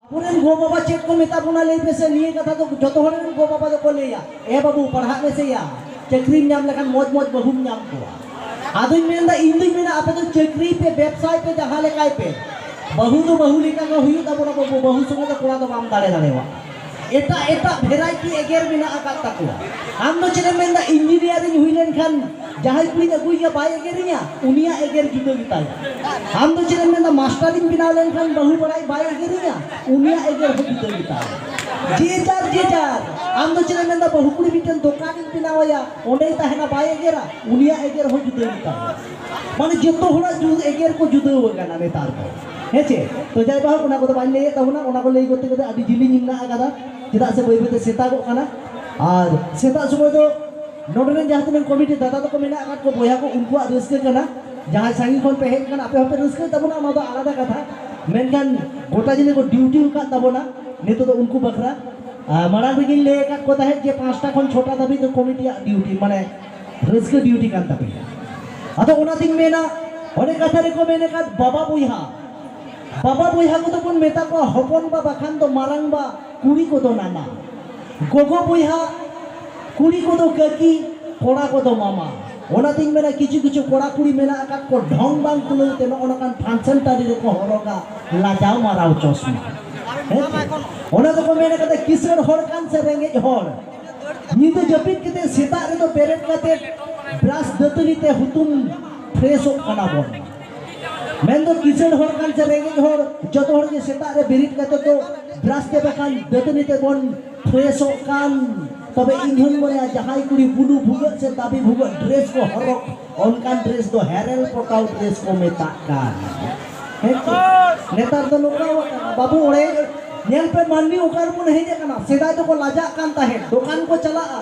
ᱟᱵᱚᱨᱮᱱ ᱜᱚ ᱵᱟᱵᱟ ᱪᱮᱫ ᱠᱚ ᱢᱮᱛᱟ ᱵᱚᱱᱟ ᱞᱟᱹᱭ ᱯᱮᱥᱮ ᱱᱤᱭᱟᱹ ᱠᱟᱛᱷᱟ ᱫᱚ ᱡᱚᱛᱚ ᱦᱚᱲ ᱨᱮᱱ ᱜᱚ ᱵᱟᱵᱟ ᱫᱚᱠᱚ ᱞᱟᱹᱭᱟ ᱮ ᱵᱟᱹᱵᱩ ᱯᱟᱲᱦᱟᱜ ᱢᱮᱥᱮᱭᱟ ᱪᱟᱹᱠᱨᱤᱢ ᱧᱟᱢ ᱞᱮᱠᱷᱟᱱ ᱢᱚᱡᱽ ᱢᱚᱡᱽ ᱵᱟᱹᱦᱩᱢ ᱧᱟᱢ ᱠᱚᱣᱟ ᱟᱫᱚᱧ ᱢᱮᱱᱫᱟ ᱤᱧ ᱫᱚᱧ ᱢᱮᱱᱟ ᱟᱯᱮ ᱫᱚ ᱪᱟᱹᱠᱨᱤ ᱯᱮ ᱵᱮᱵᱽᱥᱟᱭ ᱯᱮ ᱡᱟᱦᱟᱸ ᱞᱮᱠᱟᱭ ᱯᱮ ᱵᱟᱹᱦᱩ ᱫᱚ ᱵᱟᱹᱦᱩ ᱞᱮᱠᱟ ᱜᱮ ᱦᱩᱭᱩᱜ ᱛᱟᱵᱚᱱᱟ ᱵᱟᱹᱵᱩ ᱵᱟᱹᱦᱩ ᱥᱚᱸᱜᱮ ᱫᱚ ᱠᱚᱲᱟ ᱫᱚ ᱵᱟᱢ ᱫᱟᱲᱮ ᱫᱟᱲᱮᱣᱟᱜ ᱮᱴᱟᱜ ᱮᱴᱟᱜ ᱵᱷᱮᱨᱟᱭᱴᱤ ᱮᱜᱮᱨ ᱢᱮᱱᱟᱜ ᱟᱠᱟᱫ ᱛᱟᱠᱚᱣᱟ ᱟᱢ ᱫᱚ ᱪᱮᱫ ᱮᱢ ᱢᱮᱱᱫᱟ ᱤᱧᱡᱤᱱᱤᱭᱟᱨᱤᱧ ᱦᱩᱭ ᱞᱮᱱᱠᱷᱟᱱ ᱡᱟᱦᱟᱸᱭ ᱠᱩᱲᱤᱧ ᱟᱹᱜᱩᱭᱮᱭᱟ ᱵᱟᱭ ᱮᱜᱮᱨᱤᱧᱟ ᱩᱱᱤᱭᱟᱜ ᱮᱜᱮᱨ ᱡᱩᱫᱟᱹ ᱜᱮᱛᱟᱭᱟ ᱟᱢ ᱫᱚ ᱪᱮᱫ ᱮᱢ ᱢᱮᱱᱫᱟ ᱢᱟᱥᱴᱟᱨᱤᱧ ᱵᱮᱱᱟᱣ ᱞᱮᱱᱠᱷᱟᱱ ᱵᱟᱹᱦᱩ ᱵᱟᱲᱟᱭ ᱵᱟᱭ ᱮᱜᱮᱨᱤᱧᱟ ᱩᱱᱤᱭᱟᱜ ᱮᱜᱮᱨ ᱦᱚᱸ ᱡᱩᱫᱟᱹ ᱜᱮᱛᱟᱭᱟ ᱡᱮ ᱡᱟᱨ ᱡᱮ ᱡᱟᱨ ᱟᱢ ᱫᱚ ᱪᱮᱫ ᱮᱢ ᱢᱮᱱᱫᱟ ᱵᱟᱹᱦᱩ ᱠᱩᱲᱤ ᱢᱤᱫᱴᱮᱱ ᱫᱚᱠᱟᱱᱤᱧ ᱵᱮᱱᱟᱣᱟᱭᱟ ᱚᱸᱰᱮᱭ ᱛᱟᱦᱮᱱᱟ ᱵᱟᱭ ᱮᱜᱮᱨᱟ ᱩᱱᱤᱭᱟᱜ ᱮᱜᱮᱨ ᱦᱚᱸ ᱡᱩᱫᱟᱹ ᱜᱮᱛᱟᱭᱟ ᱢᱟᱱᱮ ᱡᱚᱛᱚ ᱦᱚᱲᱟᱜ ᱮᱜᱮᱨ ᱠᱚ ᱡᱩᱫᱟᱹ ᱟᱠᱟᱱᱟ ᱱᱮᱛᱟᱨ ᱫᱚ ᱦᱮᱸᱪᱮ ᱛᱚ ᱡᱟᱭ ᱵᱟᱦᱚᱠ ᱚᱱᱟ ᱠᱚᱫᱚ ᱵᱟᱹᱧ ᱞᱟᱹᱭᱮᱫ ᱛᱟᱵᱚᱱᱟ ᱚᱱᱟ ᱠᱚ ᱞᱟᱹᱭ ᱠᱚᱛᱮ ᱠᱚᱛᱮ ᱟᱹᱰᱤ ᱡᱤᱞᱤᱧ ᱢᱮᱱᱟᱜ ᱟᱠᱟᱫᱟ ᱪᱮᱫᱟᱜ ᱥᱮ ᱵᱟᱹᱭ ᱵᱟᱹᱭᱛᱮ ᱥᱮᱛᱟᱜᱚᱜ ᱠᱟᱱᱟ ᱟᱨ ᱥᱮᱛᱟᱜ ᱥᱚᱢᱚᱭ ᱫᱚ ᱱᱚᱰᱮ ᱨᱮᱱ ᱡᱟᱦᱟᱸ ᱛᱤᱱᱟᱹᱜ ᱠᱚᱢᱤᱴᱤ ᱫᱟᱫᱟ ᱛᱟᱠᱚ ᱢᱮᱱᱟᱜ ᱟᱠᱟᱫ ᱠᱚ ᱵᱚᱭᱦᱟ ᱠᱚ ᱩᱱᱠᱩᱣᱟᱜ ᱨᱟᱹᱥᱠᱟᱹ ᱠᱟᱱᱟ ᱡᱟᱦᱟᱸᱭ ᱥᱟᱺᱜᱤᱧ ᱠᱷᱚᱱ ᱯᱮ ᱦᱮᱡ ᱟᱠᱟᱱᱟ ᱟᱯᱮ ᱦᱚᱸᱯᱮ ᱨᱟᱹᱥᱠᱟᱹᱭ ᱛᱟᱵᱚᱱᱟ ᱚᱱᱟ ᱫᱚ ᱟᱞᱟᱫᱟ ᱠᱟᱛᱷᱟ ᱢᱮᱱᱠᱷᱟᱱ ᱜᱚᱴᱟ ᱡᱤᱞᱤ ᱠᱚ ᱰᱤᱭᱩᱴᱤ ᱟᱠᱟᱫ ᱛᱟᱵᱚᱱᱟ ᱱᱤᱛᱚᱜ ᱫᱚ ᱩᱱᱠᱩ ᱵᱟᱠᱷᱨᱟ ᱢᱟᱲᱟᱝ ᱨᱮᱜᱤᱧ ᱞᱟᱹᱭ ᱟᱠᱟᱫ ᱠᱚ ᱛᱟᱦᱮᱸᱫ ᱡᱮ ᱯᱟᱸᱪᱴᱟ ᱠᱷᱚᱱ ᱪᱷᱚᱴᱟ ᱫᱷᱟᱹᱵᱤᱡ ᱫᱚ ᱠᱚᱢᱤᱴᱤᱭᱟᱜ ᱰᱤᱭᱩᱴᱤ ᱢᱟᱱᱮ ᱨᱟᱹᱥᱠᱟᱹ ᱰᱤᱭᱩᱴᱤ ᱠᱟᱱ ᱛᱟᱯᱮᱭᱟ ᱟᱫᱚ ᱚᱱᱟᱛᱤᱧ ᱢᱮᱱᱟ ᱚᱱᱮ ᱠᱟᱛᱷᱟ ᱨᱮᱠᱚ ᱢᱮᱱ ᱟᱠᱟᱫ ᱵᱟᱵᱟ ᱵᱚᱭᱦᱟ ᱵᱟᱵᱟ ᱵᱚᱭᱦᱟ ᱠᱚᱫᱚ ᱵᱚᱱ ᱢᱮᱛᱟ ᱠᱚᱣᱟ ᱦᱚᱯᱚᱱ ᱵᱟ ᱵᱟᱠᱷᱟᱱ ᱫᱚ ᱢᱟᱨᱟᱝ ᱵᱟ ᱠᱩᱲᱤ ᱠᱚᱫᱚ ᱱᱟᱱᱟ, ᱜᱚᱜᱚ ᱵᱚᱭᱦᱟ, ᱠᱩᱲᱤ ᱠᱚᱫᱚ ᱠᱟᱹᱠᱤ, ᱠᱚᱲᱟ ᱠᱚᱫᱚ ᱢᱟᱢᱟ᱾ ᱚᱱᱟᱛᱮᱧ ᱢᱮᱱᱟ ᱠᱤᱪᱷᱩ ᱠᱤᱪᱷᱩ ᱠᱚᱲᱟ ᱠᱩᱲᱤ ᱢᱮᱱᱟᱜ ᱟᱠᱟᱫ ᱠᱚ ᱰᱷᱚᱝ ᱵᱟᱝ ᱠᱩᱞᱟᱹᱣ ᱛᱮ ᱱᱚᱜᱼᱚ ᱱᱚᱝᱠᱟᱱ ᱯᱷᱟᱱᱥᱚᱱ ᱴᱟᱺᱰᱤ ᱨᱮᱠᱚ ᱦᱚᱨᱚᱜᱟ ᱞᱟᱡᱟᱣ ᱢᱟᱨᱟᱣ ᱪᱚᱥᱢᱟ᱾ ᱦᱮᱸᱪᱮ? ᱚᱱᱟ ᱫᱚᱠᱚ ᱢᱮᱱ ᱟᱠᱟᱫᱟ ᱠᱤᱥᱟᱹᱬ ᱦᱚᱲ ᱠᱟᱱ ᱥᱮ ᱨᱮᱸᱜᱮᱡ ᱦᱚᱲ ᱧᱤᱫᱟᱹ ᱡᱟᱹᱯᱤᱫ ᱠᱟᱛᱮ ᱥᱮᱛᱟᱜ ᱨᱮᱫᱚ ᱵᱮᱨᱮᱫ ᱠᱟᱛᱮ ᱵᱨᱟᱥ ᱫᱟᱹᱛᱟᱹᱱᱤ ᱛᱮ ᱦᱩᱛᱩᱢ ᱯᱷᱨᱮᱥᱚᱜ ᱠᱟᱱᱟ ᱵᱚᱱ᱾ ᱢᱮᱱᱫᱚ ᱠᱤᱥᱟᱹᱬ ᱦᱚᱲ ᱠᱟᱱ ᱥᱮ ᱨᱮᱸᱜᱮᱡ ᱦᱚᱲ ᱡᱚᱛᱚ ᱦᱚᱲ ᱜᱮ ᱥᱮᱛᱟᱜ ᱨᱮ ᱵᱮᱨᱮᱫ ᱠᱟᱛᱮ ᱫᱚ ᱵᱨᱟᱥ ᱛᱮ ᱵᱟᱠᱷᱟᱱ ᱫᱟᱹᱛᱟᱹᱱᱤ ᱛᱮᱵᱚᱱ ᱯᱷᱨᱮᱥᱚᱜ ᱠᱟᱱ ᱛᱚᱵᱮ ᱤᱧ ᱦᱚᱧ ᱢᱚᱱᱮᱭᱟ ᱡᱟᱦᱟᱸᱭ ᱠᱩᱲᱤ ᱵᱩᱞᱩ ᱵᱷᱩᱜᱟᱹᱜ ᱥᱮ ᱫᱟᱵᱤ ᱵᱷᱩᱜᱟᱹᱜ ᱰᱨᱮᱥ ᱠᱚ ᱦᱚᱨᱚᱜ ᱚᱱᱠᱟᱱ ᱰᱨᱮᱥ ᱫᱚ ᱦᱮᱨᱮᱞ ᱯᱚᱴᱟᱣ ᱰᱨᱮᱥ ᱠᱚ ᱢᱮᱛᱟᱜ ᱠᱟᱱ ᱱᱮᱛᱟᱨ ᱫᱚ ᱱᱚᱝᱠᱟ ᱠᱟᱱᱟ ᱵᱟᱹᱵᱩ ᱚᱲᱮ ᱧᱮᱞ ᱯᱮ ᱢᱟᱹᱱᱢᱤ ᱚᱠᱟ ᱨᱮᱵᱚᱱ ᱦᱮᱡ ᱟᱠᱟᱱᱟ ᱥᱮᱫᱟᱭ ᱫᱚᱠᱚ ᱞᱟᱡᱟᱜ ᱠᱟᱱ ᱛᱟᱦᱮᱸᱫ ᱫᱚᱠᱟᱱ ᱠᱚ ᱪᱟᱞᱟᱜᱼᱟ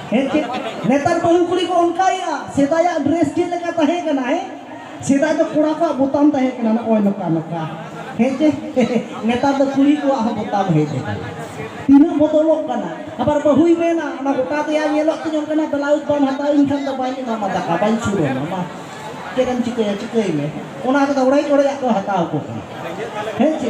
ᱦᱮᱸ ᱪᱮᱫ ᱱᱮᱛᱟᱨ ᱵᱟᱹᱦᱩ ᱠᱩᱲᱤ ᱠᱚ ᱚᱱᱠᱟᱭᱮᱜᱼᱟ ᱥᱮᱫᱟᱭᱟᱜ ᱰᱨᱮᱥ ᱪᱮᱫ ᱞᱮᱠᱟ ᱛᱟᱦᱮᱸ ᱠᱟᱱᱟ ᱦᱮᱸ ᱥᱮᱫᱟᱭ ᱫᱚ ᱠᱚᱲᱟ ᱠᱚᱣᱟᱜ ᱵᱳᱛᱟᱢ ᱛᱟᱦᱮᱸ ᱠᱟᱱᱟ ᱱᱚᱜᱼᱚᱭ ᱱᱚᱝᱠᱟ ᱱᱚᱝᱠᱟ ᱦᱮᱸ ᱪᱮ ᱱᱮᱛᱟᱨ ᱫᱚ ᱠᱩᱲᱤ ᱠᱚᱣᱟᱜ ᱦᱚᱸ ᱵᱳᱛᱟᱢ ᱦᱮᱡ ᱟᱠᱟᱱᱟ ᱛᱤᱱᱟᱹᱜ ᱵᱚᱫᱚᱞᱚᱜ ᱠᱟᱱᱟ ᱟᱵᱟᱨ ᱵᱟᱹᱦᱩᱭ ᱢᱮᱱᱟ ᱚᱱᱟ ᱜᱚᱴᱟ ᱫᱮᱭᱟ ᱧᱮᱞᱚᱜ ᱛᱤᱧ ᱚᱱᱠᱟᱱᱟᱜ ᱵᱞᱟᱣᱩᱡᱽ ᱵᱟᱢ ᱦᱟᱛᱟᱣ ᱤᱧ ᱠᱷᱟᱱ ᱫᱚ ᱵᱟᱹᱧ ᱮᱢᱟᱢᱟ ᱫᱟᱠᱟ ᱵᱟᱹᱧ ᱥᱩᱨ ᱟᱢᱟ ᱢᱟ ᱪᱮᱫ ᱮᱢ ᱪᱤᱠᱟᱹᱭᱟ ᱪᱤᱠᱟᱹᱭ ᱢᱮ ᱚᱱᱟ ᱠᱚᱫᱚ ᱚᱲᱮᱡ ᱚᱲᱮᱡᱟᱜ ᱠᱚ ᱦᱟᱛᱟᱣ ᱠᱚ ᱠᱟᱱᱟ ᱦᱮᱸ ᱪᱮ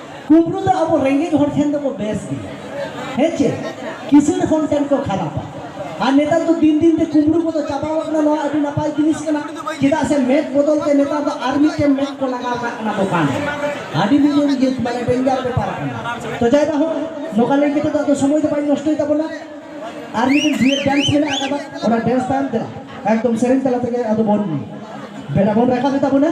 ᱠᱩᱢᱵᱽᱲᱩ ᱫᱚ ᱟᱵᱚ ᱨᱮᱸᱜᱮᱡ ᱦᱚᱲ ᱴᱷᱮᱱ ᱫᱚᱠᱚ ᱵᱮᱥ ᱜᱮᱭᱟ ᱦᱮᱸ ᱪᱮ ᱠᱤᱥᱟᱹᱬ ᱦᱚᱲ ᱴᱷᱮᱱ ᱠᱚ ᱠᱷᱟᱨᱟᱯᱟ ᱟᱨ ᱱᱮᱛᱟᱨ ᱫᱚ ᱫᱤᱱ ᱫᱤᱱ ᱛᱮ ᱠᱩᱢᱵᱽᱲᱩ ᱠᱚᱫᱚ ᱪᱟᱵᱟᱣ ᱠᱟᱱᱟ ᱱᱚᱣᱟ ᱟᱹᱰᱤ ᱱᱟᱯᱟᱭ ᱡᱤᱱᱤᱥ ᱠᱟᱱᱟ ᱪᱮᱫᱟᱜ ᱥᱮ ᱢᱮᱫ ᱵᱚᱫᱚᱞ ᱛᱮ ᱱᱮᱛᱟᱨ ᱫᱚ ᱟᱨ ᱢᱤᱫᱴᱮᱱ ᱢᱮᱫ ᱠᱚ ᱞᱟᱜᱟᱣ ᱠᱟᱜ ᱠᱟᱱᱟ ᱫᱚᱠᱟᱱ ᱟᱹᱰᱤ ᱢᱤᱫ ᱜᱮ ᱢᱟᱱᱮ ᱵᱮᱸᱜᱟᱲ ᱵᱮᱯᱟᱨ ᱠᱟᱱᱟ ᱛᱚ ᱡᱟᱭ ᱵᱟ ᱦᱚᱸ ᱱᱚᱝᱠᱟ ᱞᱟᱹᱭ ᱠᱟᱛᱮ ᱫᱚ ᱟᱫᱚ ᱥᱚᱢᱚᱭ ᱫᱚ ᱵᱟᱹᱧ ᱱᱚᱥᱴᱚᱭ ᱛᱟᱵᱚᱱᱟ ᱟᱨ ᱢᱤᱫᱴᱮᱱ ᱰᱩᱭᱮᱴ ᱰᱟᱱᱥ ᱢᱮᱱᱟᱜ ᱟᱠᱟᱫᱟ ᱚᱱᱟ ᱰᱮᱱᱥ ᱛᱟᱭᱚᱢ ᱛᱮ ᱮᱠᱫᱚᱢ ᱥᱮᱨᱮᱧ ᱛᱟᱞᱟ ᱛᱮᱜᱮ ᱟᱫᱚ ᱵᱚᱱ ᱵᱮᱲᱟ ᱵᱚᱱ ᱨᱟᱠᱟᱵ ᱛᱟᱵᱚᱱᱟ